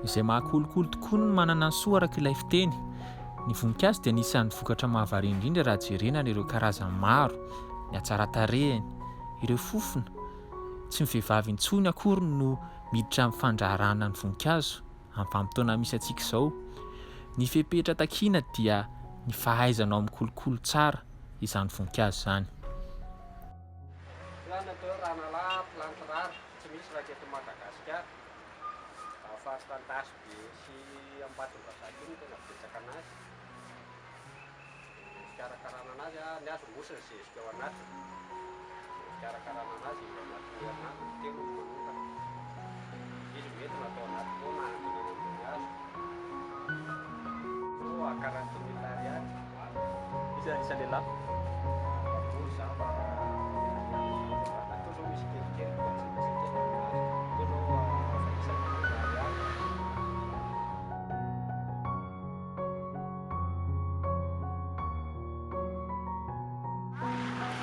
izay maha kolikoly tokoa ny manana ny soa araka ilay fiteny. Ny voninkazo dia anisan'ny vokatra mahavariana indrindra raha jerena ary ireo karazany maro, ny hatsaran-tarehiny, ireo fofona. Tsy ny vehivavy intsony akory no miditra amin'ny fandraharahana ny voninkazo amin'ny vanim-potoana misy antsika izao. Ny fepetra takiana dia ny fahaizanao mikolokolo tsara izany voninkazo izany. Tohanana teo ranalahy mpilanty rary tsy misy raika eto Madagasikara. Raha faritra Antasibe sy Ambatondrazaka io no tena betsaka anazy. Ny fikarakarana anazy, ny azy mosy ny zezika ao anatiny. Ny fikarakarana anazy indray anatin'ny herinandro ny telo no manokana. Izy mety natao anaty pot na hantina eny ambony hazo. Pot à 40 mille ariary.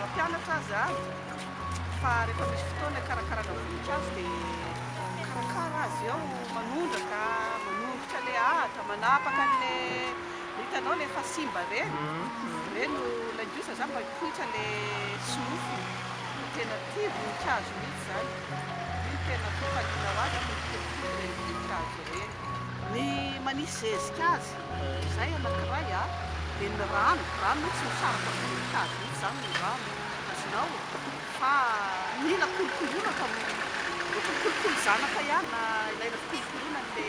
Mampianatra azy aho fa rehefa misy fotoana hikarakarana voninkazo dia mikarakara azy eo, manondraka, manongotra ilay ahitra, manapaka an'ilay Hitanao le efa simba re, re no ilay ndrosa zany mba hipoitra le sinofiny no tena tia voninkazo mihitsy zany, iny tena atao fanina ho azy zany mikolokolo le voninkazo re. Ny manisy zezika azy izay anakiray a, dia ny rano, rano moa tsy misaraka amin'ny voninkazo mihitsy zany ny rano azonao fa mila kolokoloina fa ohatran'ny kolokolo zanaka ihany na ilaina fikolokoloina an'le.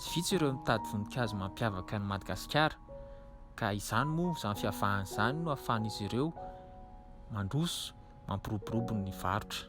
Tsy vitsy ireo mitady voninkazo mampiavaka an'i Madagasikara ka izany moa, izany fiavahany izany no ahafahan'izy ireo mandroso, mampiroborobo ny varotra.